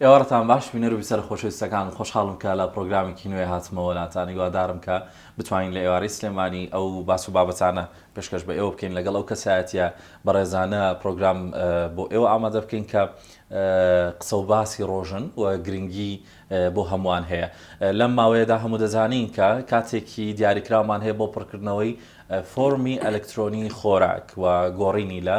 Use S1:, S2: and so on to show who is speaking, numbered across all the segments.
S1: ئێوارەتان باش بینەر و بیسەر خۆشەویستەکان خۆشحاڵم کە لە پرۆگرامێکی نوێ هاتمەوە لاتانی هیوادارم کە بتوانین لە ئێوارەی سلێمانی ئەو باس و بابەتانە پێشکەش بە ئێوە بکەین لەگەڵ ئەو کەسایەتیە بەڕێزانە پرۆگرام بۆ ئێوە ئامادە بکەین کە قسە و باسی ڕۆژن و گرنگی بۆ هەمووان هەیە لەم ماوەیەدا هەموو دەزانین کە کاتێکی دیاریکرامان هەیە بۆ پڕکردنەوەی فۆرمی ئەلکترۆنی خۆراک و گۆڕینی لە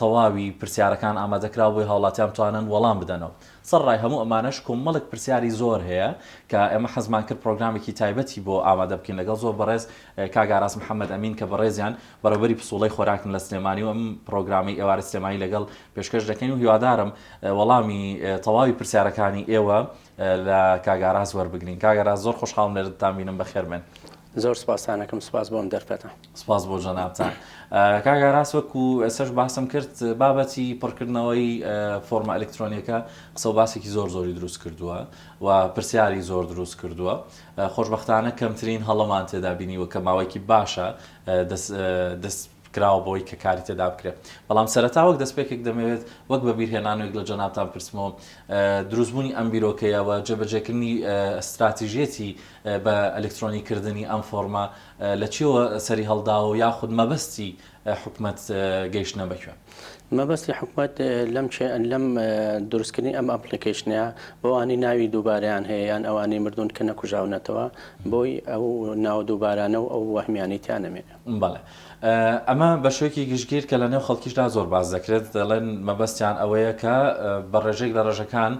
S1: تەواوی پرسیارەکان ئامادەکراو بۆی هاوڵاتیان بتوانن وەڵام بدەنەوە سەرڕای هەموو ئەمانەش کۆمەڵێک پرسیاری زۆر هەیە کە ئێمە حەزمان کرد پرۆگرامێکی تایبەتی بۆ ئامادە بکەین لەگەڵ زۆر بەڕێز کاک ئاراس محەمەد ئەمین کە بەڕێزیان بەڕێوبەری پسوڵەی خۆراکن لە سلێمانی و ئەم پرۆگرامەی ئێوارە سلێمانی لەگەڵ پێشکەش دەکەین و هیوادارم وەڵامی تەواوی پرسیارەکانی ئێوە لە کاک ئاراس وەربگرین کاک ئاراس زۆر خۆشحاڵم لێرەتان بینم بەخێربێن زۆر سپاسانەکەم
S2: سپاس بۆم دەرفەتە سپاس بۆ جەنابتان
S1: کاک ئاراس وەکو ئێسش باسم کرد بابەتی پڕکردنەوەی فۆرمە ئەلکترۆنیەکە قسە باسێکی زۆر زۆری دروست کردووە و پرسیاری زۆر دروست کردووە خۆشببختانە کەمترین هەڵەمان تێدا بینیوە کە ماوەیەکی باشە دەست کراوە بۆی کە کاری تێدا بکرێت بەڵام سەرەتا وەک دەستپێکێک دەمەوێت وەک بە بیرهێنانێک لە جەنابتان بپرسمەوە دروستبوونی ئەم بیرۆکەیە و جێبەجێکردنی ئەستراتیژێتی بە ئەلکترۆنی کردنی ئەم فۆرمە لە چیەوە سەری هەڵداوە و یاخود مەبەستی حکومت گەیشتە بەکوێ مەبەستی
S2: حکومت لەم لەم دروستکردنی ئەم ئەپلیکیشنە بەوانی ناوی دووباریان هەیە یان ئەوانی مردون کە نەکوژاونەتەوە بۆی ئەو ناو دووبارانە و ئەو وەهمیانی تیانەمێنێ بەڵێ
S1: ئەمە بەشێکی گشتگیر کە لە نێو خەڵکیشدا زۆر باس دەکرێت دەڵێن مەبەستیان ئەوەیە کە بە ڕێژێک لە ڕێژەکان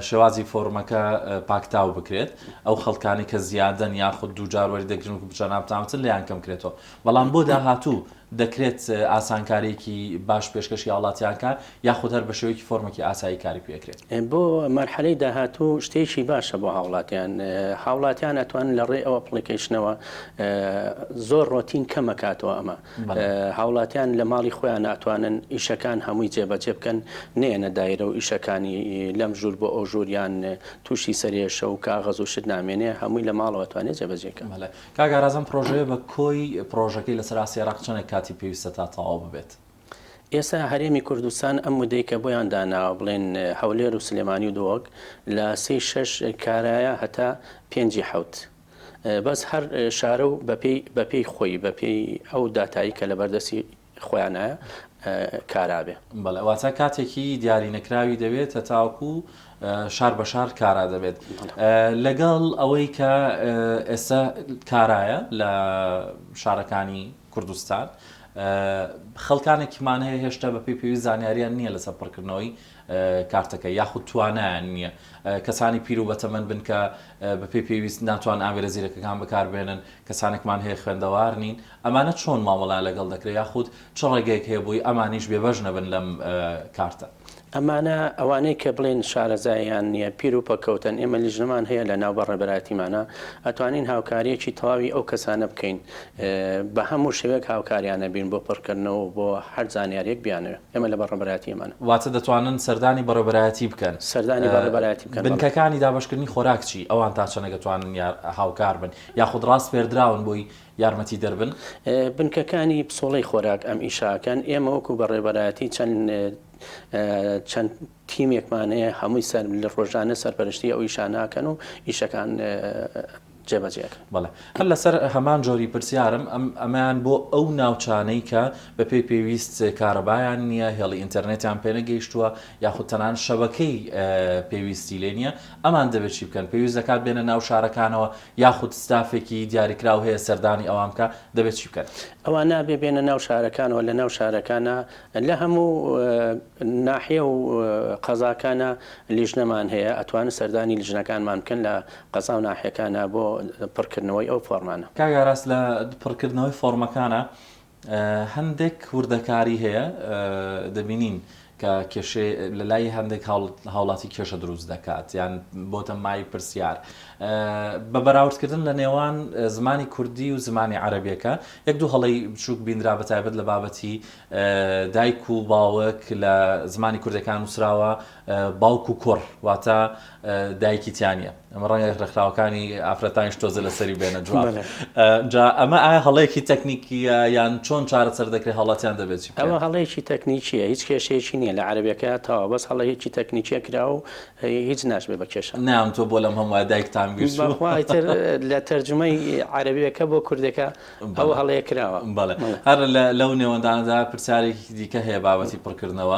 S1: شێوازی فۆرمەکە پاکتاو بکرێت ئەو خەڵکانی کە زیادەن یاخود دوو جار وەری دەگرن و بچە ناپتاوتن لیان کەم کرێتەوە بەڵام بۆ داهاتوو دەکرێت ئاسانکاریکی باش پێشکەشی هاوڵاتیانکە یاخود هەر بە شێوەیەکی فۆرمێکی ئاسایی کاری پێ ئەکرێت؟ بۆ مەرحەلەی
S2: داهاتوو شتێکی باشە بۆ هاوڵاتیان، هاوڵاتیان ئەتوانن لە ڕێی ئەو ئەپڵیکەیشنەوە زۆر ڕۆتین کەم ئەکاتەوە ئەمە، هاوڵاتیان لە ماڵی خۆیان ئەتوانن ئیشەکان هەمووی جێ بە جێ بکەن نەیەنە دایرە و ئیشەکانی لەم ژوور بۆ ئەو ژوور یان تووشی سەرێشە و کاغەز و شت نامێنێ هەمووی لە ماڵەوە ئەتوانێ جێ بە جێ کا. کاک ئاراز ئەم
S1: پڕۆژەیە بە کۆی پڕۆژەکەی لە سەراستی عێراق چەنێک کاتی پێویستە تا تەواو ببێت؟ ئێستا
S2: هەرێمی کوردستان ئەم مودەی کە بۆیان داناوە بڵێن هەولێر و سلێمانی و دۆک لە سێی شەش کارایە هەتا پێنجی حەوت بەس هەر شارە و بەپێی بەپێی خۆی بەپێی ئەو داتایی کە لە بەردەستی خۆیانایە کارابێ بەڵێ واتە
S1: کاتێکی دیاری نەکراوی دەوێت تا تاوەکو شار بە شار کارا دەبێت لەگەڵ ئەوەی کە ئێستا کارایە لە شارەکانی کوردستان خەڵکانێکمان هەیە هێشتا بە پێی پێویست زانیاریان نییە لەسەر پڕکردنەوەی کارتەکە یاخود توانایان نییە کەسانی پیر و بەتەمەن بن کە بە پێی پێویست ناتوان ئامێرە زیرەکەکان بەکاربێنن کەسانێکمان هەیە خوێندەوار نین ئەمانە چۆن مامەڵە لەگەڵ دەکرێت یاخود چ ڕێگەیەک هەیە بۆی ئەمانیش بێبەش نەبن لەم کارتە. ئەمانە
S2: ئەوانەی کە بڵێن شارەزاییان نیە پیر و پەککەوتەن ئێمە لیژنەمان هەیە لە ناو بە ڕێبەرایەتیمانا ئەتوانین هاوکاریەکی تەواوی ئەو کەسانە بکەین بە هەموو شێوەیەک هاوکاریانە بین بۆ پڕکردنەوە و بۆ هەر زانیاریەک بیانەوێ ئێمە لە بەڕێبەرایەتی ئەمانە. واتە دەتوانن
S1: سەردانی بەڕێبەرایەتی بکەن؟ سەردانی بەڕێبەرایەتی
S2: بکەن بەڵێ. بنکەکانی دابەشکردنی
S1: خۆراک چی؟ ئەوان تا چەنە گەتوانن یار هاوکار بن یاخود ڕاسپێردراون بۆی؟ یارمەتی دەر بن. بنکەکانی
S2: پسۆڵەی خۆراک ئەم ئیشە ئەکەن، ئێمە وەکو بەڕێوەبەرایەتی چەند چەند تیمێکمان هەیە هەمووی سەر لە ڕۆژانە سەرپەرشتی ئەو ئیشانە ئەکەن و ئیشەکان جێ بەجێ ئەکەن. بەڵێ هەر
S1: لەسەر هەمان جۆری پرسیارم ئەم ئەمەیان بۆ ئەو ناوچانەی کە بە پێی پێویست کارەبایان نییە هێڵی ئینتەرنێتیان پێ نەگەیشتووە یاخود تەنانەت شەبەکەی پێویستی لێ نییە ئەمان دەبێت چی بکەن؟ پێویست دەکات بێنە ناو شارەکانەوە یاخود ستافێکی دیاریکراو هەیە سەردانی ئەوان بکا؟ دەبێت چی بکەن؟ ئەوان نابێت بێنە
S2: ناو شارەکانەوە، لە ناو شارەکانا لە هەموو ناحیە و قەزاکانا لیژنەمان هەیە، ئەتوانن سەردانی لیژنەکانمان بکەن لە قەزا و ناحیەکانا بۆ پڕکردنەوەی ئەو فۆرمانە. کاک ئاراس لە
S1: پڕکردنەوەی فۆرمەکانا هەندێک وردەکاری هەیە دەبینین کە کێشەی لە لای هەندێک هاوڵاتی کێشە دروست دەکات یان بۆتە مای پرسیار بە بەراوردکردن لە نێوان زمانی کوردی و زمانی عەربیەکە یەک دوو هەڵی بچووک بیندرا بە تایبەت لە بابەتی دایک و باوەک لە زمانی کوردەکان وسراوە باوک و کوڕ واتە دایکی تیانە ئەمە ڕەنگە ڕێکخراوەکانی ئافرەتانیش تۆزە لەسەری بێنە جواب جا ئەمە ئایا هەڵەیەکی تەکنیکیە یان چۆن چارەسەر دەکرێت هەڵاتیان دەبێت ئەوە هەڵەیەکی
S2: تەکنیکیە هیچ کێشەیەکی نییە لە عربەکە تاوا بەس هەڵەیەکی تەکنیکیە کرا و هیچ ناشبێ بە کێشە نام تۆ بۆ لەم هەمووە
S1: دایکتان گوێتر
S2: لە تەرجمەی عربیەکە بۆ کوردەکە ئەو هەڵەیە کراوە بەڵێ هەر
S1: لەو نێوەندانەدا پرسیارێکی دیکە هەیە بابەتی پڕکردنەوە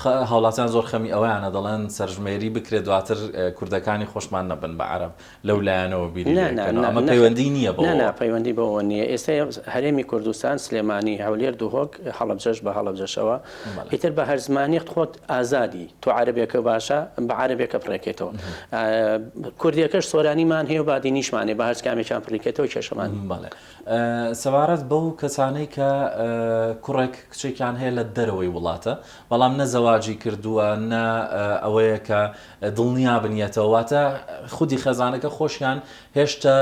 S2: خە هاوڵاتیان
S1: زۆر خەمی ئەوەیانە دەڵێن سەرژمێری بکرێت دواتر کوردەکانی خۆشمان نەبن بە عەرەب لەو لایەنەوە بیری لێ بکەنەوە ئەمە پەیوەندی نیە بەوەوە. نانا پەیوەندی بەوەوە نیە
S2: ئێستا هەرێمی کوردستان سلێمانی هەولێر دهۆک هەڵەبجەش بە هەڵەبجەشەوە ئیتر بە هەر زمانیەک خۆت ئازادی تۆ عەرەبێکە باشە بە عەرەبێکە بڕێکێتەوە کوردێکەش سۆرانیمان هەیە و بادینیشمان هەیە بە هەرچ کامێکیان پڕیکێتەوە کێشەمان نیە.
S1: سەبارەت بەو کەسانەی کە کوڕێک کچێکیان هەیە لە دەرەوەی وڵاتە بەڵام نە زەواجی کردووە نە ئەوەیە کە دڵنیا بنیەتەوە واتە خودی خەزانەکە خۆشیان هێشتا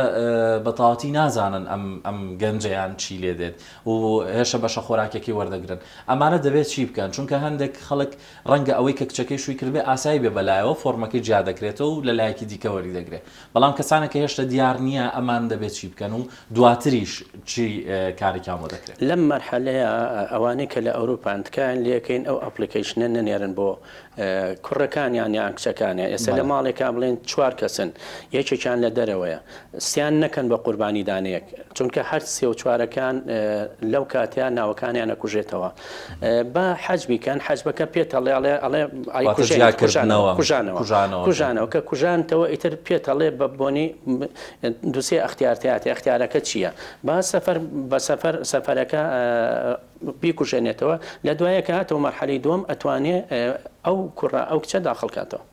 S1: بەتاواتی نازانن ئەم ئەم گەنجیان چی لێ دێت و هێشە بەشە خۆراکێکی وەردەگرن ئەمانە دەبێت چی بکەن چونکە هەندێک خەڵک ڕەنگە ئەوەی کە کچەکەی شووی کردبێ ئاسایی بێ بەلایەوە فۆڕمەکەی جیا دەکرێتەوە و لە لایەکی دیکە وەری دەگرێ بەڵام کەسانێک کە هێشتە دیار نیە ئەمان دەبێ چی بکەن و دواتریش چی کارێکیان بۆ دەکرێ. لەم مەرحەلەیە
S2: ئەوانەی کە لە ئەوروپان تکایەن لەکەین ئەو ئەپڵیکەیشنە نەنێرن بۆ کوڕەکانیان یان کچەکانیان ئێستا لە ماڵێکا بڵێن چوار کەسن یەکێکیان لە دەرەوەیە سیان نەکەن بە قوربانی دانێک چونکە هەر سێ و چوارەکان لەو کاتە ناوەکانیان ئەکوژێتەوە با حەج بیکەن حەجبەکە پێت ئەڵێ ئەڵێ ئەڵێ ئەی کوژێنەوە کوژانەوە کوژانەوە کوژانەوە کە کوژانتەوە ئیتر پێت ئەڵێ بە بۆنی دووسێ ئەختیارتیاتێ ئەختیارەکە چییە با سەفەر بە سەفەر سەفەرەکە بیکوژێنێتەوە لە دوایەکە هاتەوە مەرحەلەی دووەم ئەتوانێ ئەو کوڕە ئەو کچە داخڵکاتەوە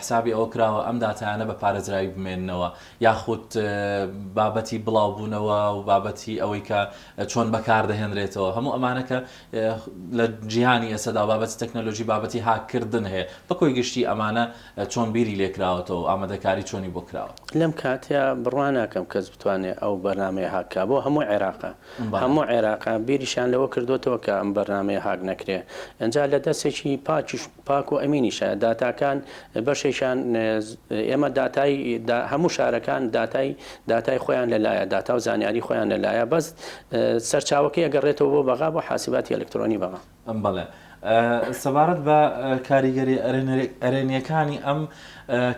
S1: حسابی ئەوە کراوە ئەم داتایانە بە پارێزراوی بمێننەوە یاخود بابەتی بڵاوبوونەوە و بابەتی ئەوەی کە چۆن بەکاردەهێنرێتەوە هەموو ئەمانە کە لە جیهانی ئێسەدا بابەتی تەکنەلۆژی بابەتی هاککردن هەیە بە کۆی گشتی ئەمانە چۆن بیری لێکراوەتەوە ئامادەکاری چۆنی بۆ کراوە؟ لەم کاتەیا
S2: بڕوا ناکەم کەس بتوانێ ئەو بەرنامەیە هاک کا بۆ هەموو عێراقە هەموو عێراقە بیریشیان لەوە کردۆتەوە کە ئەم بەرنامەیە هاک نەکرێ ئەجا لە دەسێکی پاکیش پاکۆ ئەمینیشە داتاکان بەشێکیان ئێمە داتای هەموو شارەکان داتای داتای خۆیان لەلایە داتا و زانیاری خۆیان لەلایە بەس سەرچاوەکەی ئەگەڕێتەوە بۆ بەغا بۆ حاسباتی ئەلکترۆنی بەغا. بەڵێ
S1: سەبارەت بە کاریگەری ئەرێنیەکانی ئەم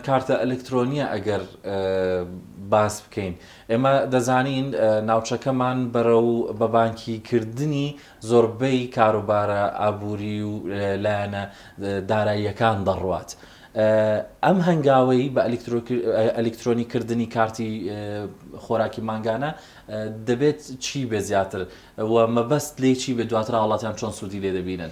S1: کارتە ئەلکترۆنیە ئەگەر باس بکەین ئێمە دەزانین ناوچەکەمان بەرەو بەبانکی کردنی زۆربەی کاروبارە ئابووری و لایەنە داراییەکان دەڕوات. ئەم هەنگاوەی بە ئەلیکترۆنی کردنی کارتی خۆراکی مانگانە دەبێت چی بێت زیاتر و مەبەست لێی چی بێت دواتر هاوڵاتیان چۆن سوودی لێ دەبینن؟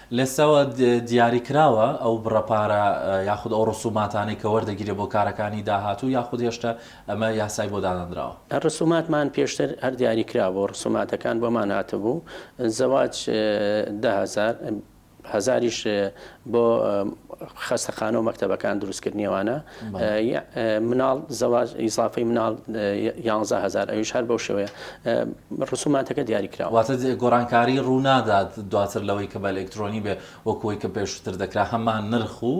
S2: لێستەوە
S1: دیاری کراوە ئەو بڕە پارە یاخود ئەو ڕسوماتانەی کە وەردەگیرێت بۆ کارەکانی داهاتوو یاخود هێشتا ئەمە یاسای بۆ دانەنراوە؟ ڕسوماتمان پێشتر
S2: هەر دیاری کرابوو، ڕسوماتەکان بۆمان هاتبوو، زەواج دە هەزار، هەزاریش بۆ خەستەخانە و مەکتەبەکان دروستکردنی ئەوانە. مناڵ زەواج ئیزافەی مناڵ یانزە هەزار ئەویش هەر بەو شێوەیە ڕسوماتەکە دیاری کرا واتە گۆڕانکاری
S1: ڕوونادات دواتر لەوەی کە بە ئەلکترۆنی بێ وەکوی کە پێشتر دەکرا هەمان نرخ و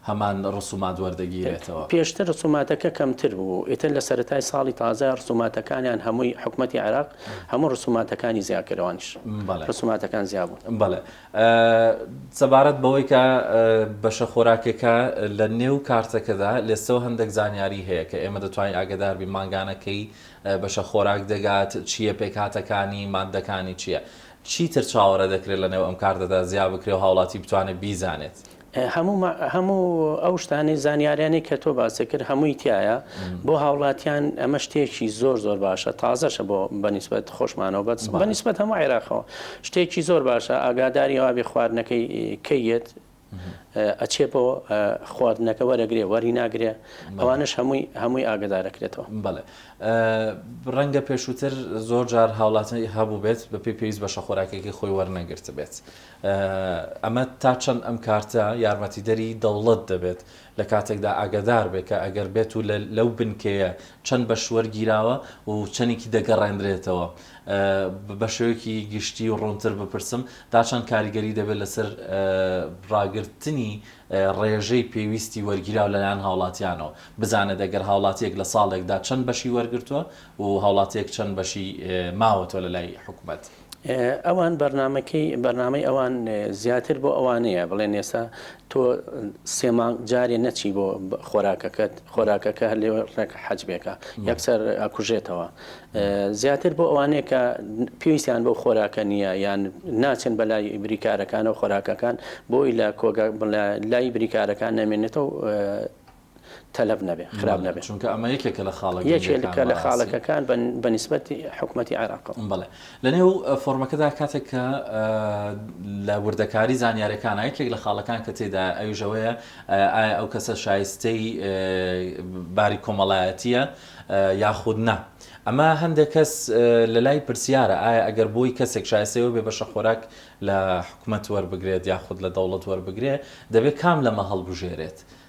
S1: هەمان ڕسومات وەردەگیرێتەوە پێشتر ڕسوماتەکە
S2: کەمتر بوو ئیتر لە سەرەتای ساڵی تازە ڕسوماتەکانیان هەمووی حکوومەتتی عێراق هەموو ڕسوماتەکانی زیاکەرەوانش ڕسوماتەکان زیابوو بەڵێ
S1: سەبارەت بەوەی کە بەشە خۆراکێکە لە نێو کارتەکەدا لێستەوە هەندێک زانیاری هەیە کە ئێمە دەتوانین ئاگداربی مانگانەکەی بەشە خۆراک دەگات چییە پێکاتەکانی مادەکانی چییە چیتر چاوەڕێ دەکرێت لە نێو ئەم کارتەدا زیا بکرێ و هاوڵاتی بتوانێت بیزانێت. هەموو ما
S2: هەموو ئەو شتانەی زانیاریانەی کە تۆ باست کرد هەمووی تیایە بۆ هاوڵاتیان ئەمە شتێکی زۆر زۆر باشە تازەشە بۆ بەنیسبەت خۆشمانەوە بەس بەنیسبەت هەموو عێراقەوە شتێکی زۆر باشە ئاگاداری ئەوابێ خواردنەکەی کەیت ئەچێ بۆ خواردنەکە وەرەگرێ وەری ناگرێ ئەوانش هەمووی هەمووی ئاگدارەکرێتەوە بڵێ
S1: ڕەنگە پێشووتر زۆر جار هاوڵاتی هەبوو بێت بە پێی پێویست بەشە خۆراکێکی خۆی وەرنەگرت بێت ئەمە تا چەند ئەم کارتە یارمەتیدەری دەوڵەت دەبێت، لە کاتێکدا ئاگادار بێت کە ئەگەر بێت و لەو بنکەیە چەند بەش وەرگیراوە و چەندێکی دەگەڕێندرێتەوە؟ بە شێوەیەکی گشتی و ڕوونتر بپرسم، تا چەند کاریگەری دەبێت لەسەر ڕاگرتنی ڕێژەی پێویستی وەرگیراو لەلایەن هاوڵاتیانەوە؟ بزانێت ئەگەر هاوڵاتییەک لە ساڵێکدا چەند بەشی وەرگرتووە و هاوڵاتییەک چەند بەشی ماوەتەوە لەلای حکومەت؟ ئەوان
S2: بەرنامەکەی بەرنامەی ئەوان زیاتر بۆ ئەوانەیە بڵێن ئێستا تۆ سێ مانگ جارێ نەچی بۆ خۆراکەکەت خۆراکەکە هەر لێ ڕێک حەجبێکە یەکسەر ئەکوژێتەوە زیاتر بۆ ئەوانەیە کە پێویستیان بۆ خۆراکە نییە یان ناچن بە لای بریکارەکانە و خۆراکەکان بۆی لە کۆگە لای بریکارەکان نامێنێتەوە تەلەف نەبێ خراپ نەبێ چونکە ئەمە یەکێکە لە خاڵە
S1: گرنگەکان بەڕاستی یەکێکە لە
S2: خاڵەکەکان بە نیسبەتی حکومەتی عێراق بەڵێ لەنێو
S1: فۆرمەکەدا کاتێک کە لە وردەکاری زانیارەکان یەکێک لە خاڵەکان کە تێدا ئەویش ئەوەیە ئایا ئەو کەسە شایستەی باری کۆمەڵایەتیە یاخود نا ئەمە هەندێک کەس لە لای پرسیارە ئایا ئەگەر بۆی کەسێک شایستەوە بێ بەشە خۆراک لە حکومەت وەربگرێت یاخود لە دەوڵەت وەربگرێت دەبێت کام لەمە هەڵبژێرێت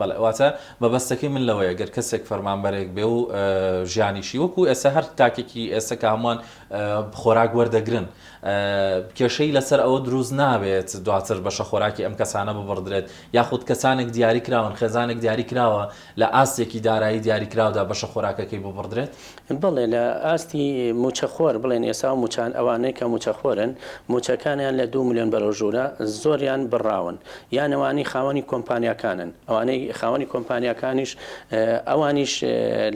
S2: بەڵێ واتە
S1: مەبەستەکەی من لەوەیە گەر کەسێک فەرمانبەرێک بێ و ژیانیشی وەکو ئێستا هەر تاکێکی ئێستا کە هەمووان خۆراک وەردەگرن کێشەی لەسەر ئەوە دروست نابێت دواتر بەشە خۆراکی ئەم کەسانە ببڕدرێت یاخود کەسانێک دیاری کراون خێزانێک دیاری کراوە لە ئاستێکی دارایی دیاری کراودا بەشە خۆراکەکەی ببڕدرێت بەڵێ لە
S2: ئاستی مووچەخۆر بڵێن ئێستا ئەو مووچان ئەوانەی کە مووچەخۆرن مووچەکانیان لە دوو ملیۆن بەرەو ژوورە زۆریان بڕاون یان ئەوانەی خاوەنی کۆمپانیاکانن ئەوانەی خاوەنی کۆمپانیاکانیش ئەوانیش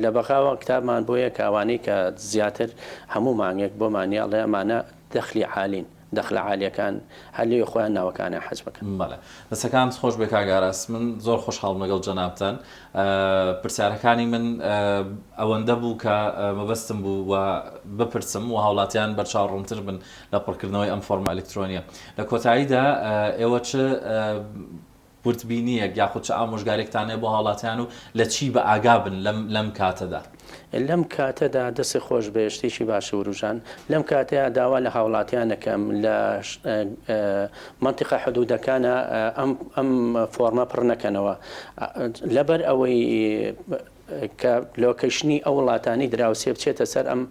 S2: لە بەغاوە کتابمان بۆیە کە ئەوانەی کە زیاتر هەموو مانگێک بۆمانیاڵێ ئەمانە دەخلی عالین. دەخلە عالیەکان هەر لەوێ خۆیان ناوەکانیان حەج بکەن. بەڵێ دەستەکانت
S1: خۆش بێ کاک ئاراس من زۆر خۆشحاڵم لەگەڵ جەنابتان پرسیارەکانی من ئەوەندە بوو کە مەبەستم بوو و بپرسم و هاوڵاتیان بەرچاو ڕوونتر بن لە پڕکردنەوەی ئەم فۆرمە ئەلکترۆنیە لە کۆتاییدا ئێوە چ وردبینییەک یاخود چ ئامۆژگارییەکتان هەیە بۆ هاوڵاتیان و لە چی بە ئاگا بن لەم لەم کاتەدا؟ لەم
S2: کاتەدا دەستت خۆش بێت شتێکی باشە وروژان، لەم کاتەیا داوا لە هاوڵاتیان ئەکەم لە مەنتیقە حدوودەکانا ئەم ئەم فۆڕمە پڕ نەکەنەوە لەبەر ئەوەی کە لۆکەیشنی ئەو وڵاتانەی دراوسێ بچێتە سەر ئەم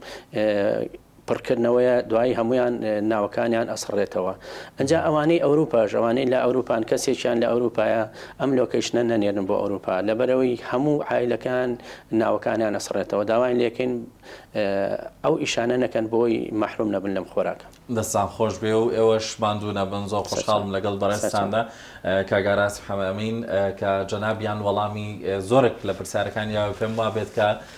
S2: پڕکردنەوەیە دوایی هەموویان ناوەکانیان ئەسڕێتەوە ئەجا ئەوانەی ئەوروپاش ئەوانەی لە ئەوروپان کەسێکیان لە ئەوروپایە ئەم لۆکەیشنە نەنێرن بۆ ئەوروپا لەبەرەوەی هەموو عیلەکان ناوەکانیان ئەسڕێتەوە داوای لێکەین ئەو ئیشانە نەکەن بۆی مەحروم نەبن لەم خۆراکە دەستان
S1: خۆش بێ و ئێوەش ماندوو نەبن زۆر خۆشحاڵم لەگەڵ بەڕێزتاندا کاگاراس حەمەمین کە جەنابیان وەڵامی زۆرێک لە پرسیارەکانی یاوە پێم وابێت کە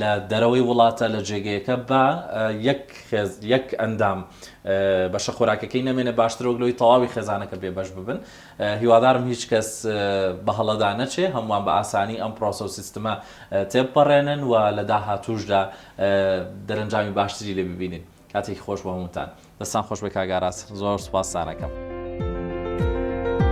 S1: لە دەرەوەی وڵاتە لە جێگەیەکە با یەک خێز یەک ئەندام بەشە خۆراکەکەی نەمێنێ باشتر وەک لەوەی تەواوی خێزانەکە بێ بەش ببن هیوادارم هیچ کەس بە هەڵەدا نەچێ هەمووان بە ئاسانی ئەم پرۆسە و سیستمە تێپەڕێنن و لە داهاتووشدا دەرەنجامی باشتری لێ ببینین کاتێکی خۆش بۆ هەمووتان دەستان خۆش بێ کاک ئاراس زۆر سوپاستانەکەم.